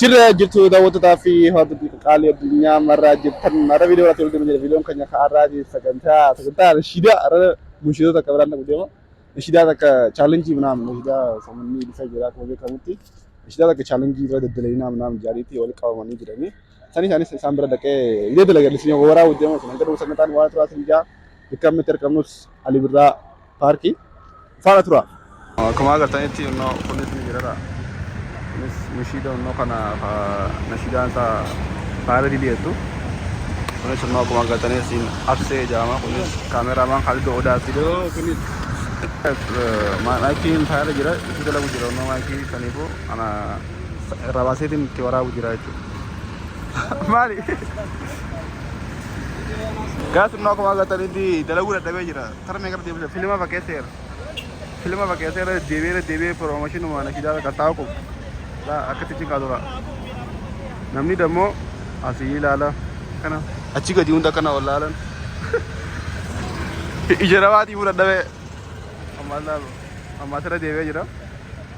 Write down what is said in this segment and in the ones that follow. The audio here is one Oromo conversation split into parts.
Jirra jirtu daawwattotaa fi hordoftoota qaalii addunyaa marraa jirtan har'a viidiyoo irratti walitti jira viidiyoon keenya ka'arraati sagantaa sagantaa nashiidaa har'a nashiidota akka biraan dhaqu deema nashiidaa takka chaalenjii manaam nashiidaa samanni ibsa jira akkuma beekamutti nashiidaa takka chaalenjii bira daddalayinaa manaam jaariitti wal qabamanii jiranii isaan isaanis isaan bira dhaqee idee dalagallisni waraa wajjama sun hanga dhufu sagantaan waan turaa sin jaa bikkammitti argamnus alibirraa paarkii faana tura. Akkuma agartanitti innoo kunis migiradha. Kunis mishiida innoo kana nashiidaan isaa faayila didiyeettu. Kunis innoo akkuma agartanii siin absee jaama. Kunis kaameraamaan Khalidoo Odaati. Maakiin faayila jira itti dalagu jira innoo maakii saniifuu ana irraa baaseetiin itti waraabu jira jechuudha. Maali? Gaas innoo akkuma agartanitti dalaguu dadhabee jira. Sara meeqaf deebisa filima fakkeesseera. Filima fakkeesseera deddeebi'ee deddeebi'ee piroomashinuma nashiidaarra qaxxaa'u qofa. Laa akkatti achi kaatu laa. Namni dammoo asii ilaala. Kana achi gadi hunda kana ol laalan. Ija namaatii fudhadhamee. Ammaa ilaalu. Ammaa sira deebi'ee jira.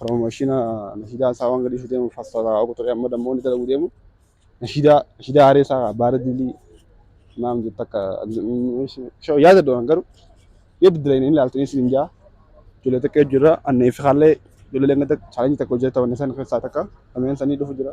Promoshina nashiidaa isaa waan gadhiisu deemu fassara quxurii amma dammoo inni dalaguu deemu nashiidaa nashiidaa aaree isaa baara dilii maam jetta akka shoo yaada doon garuu yoo biddila hin ilaaltu inni siin jaa ijoollee takka jira anna ifi haallee ijoollee leenga takka chaalenji takka hojjeta wanni san keessaa takka lameen sanii dhufu jira.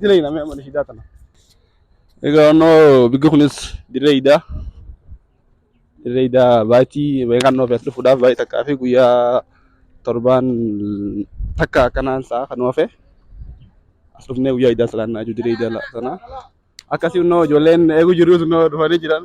Dirree hidhaa mee mana hidhaa tana. Egaa onnoo bigga kunis dirree hidhaa. Dirree hidhaa baatii beekaan noo beektu fuudhaaf baay'ee takkaa fi guyyaa torbaan takka akkanaan sa'a kan oofe. As dhufnee guyyaa hidhaa salaannaa jiru dirree hidhaa sanaa. Akkasii onnoo ijoolleen eeguu jirus onnoo dhufanii jiran.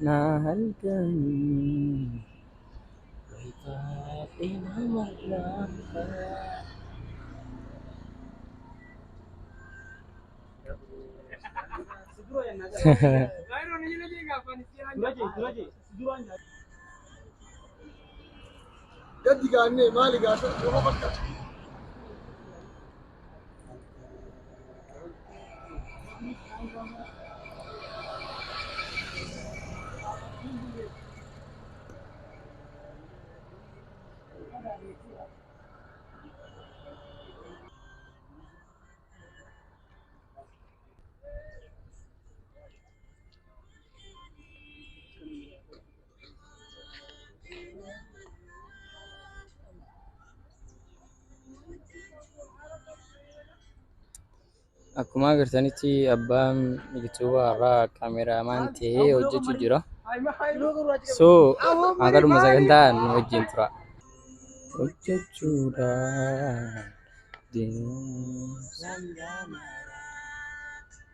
Na halkanii rifaadhe nama laafaa. Gaddi gaannee maali gaasa nama fakkaata. Akkuma agartanitti abbaan biqiltuu har'aa kaameraamaan ta'ee hojjechuu jira. So haqadhuma sagantaa nu wajjin tura. Hojjechuudhaan deemuun sangaa maraa.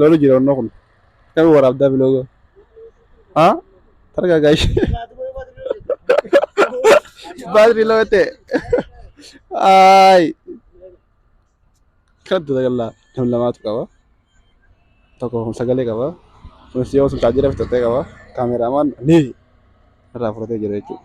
Lolu jira onnoo kun. Kan waraabdaa biloogoo. Haa? Targaa gaashi. Baatirii lama ta'e. Aayi. Kan dura gallaa nam lamaatu qaba. Tokko kun sagalee qaba. Kunis yoo sun chaajjira fixattee qaba. Kaameraamaan ni irraa fudhatee jira jechuudha.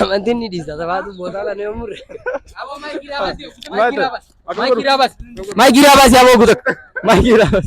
Amantiin ni dhiisa. Sabaatu boodaa kana yoo murre. Maayikii raabas. Maayikii raabas. Maayikii raabas yaa boogu takka. Maayikii raabas.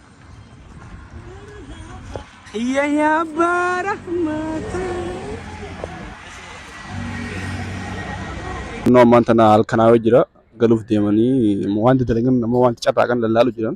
Kiyya yaa abbaa rahmata. Kunoo ammaan tana halkanaa yoo jira galuuf deemanii immoo wanti dalagan nama wanti carraa kan lallaalu jiran.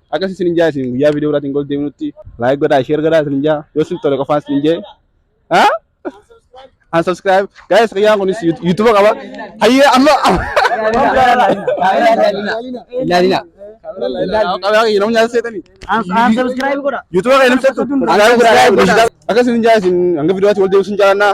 Akkasii isin hin jaa isin guyyaa viidiyoo biraatiin gol deebinutti laayik godhaa sheer godhaa isin hin jaa yoo isin tole qofaan isin hin jee. Haa? An subscribe. Guys guyyaan kunis YouTube qaba. Hayyee amma. Ilaalina. Qabaa kiyya namni nyaata seetanii. An subscribe godha. YouTube kee namni seetu. Akkasii isin hin jaa isin hanga viidiyootti wal deebisuun jaalannaa.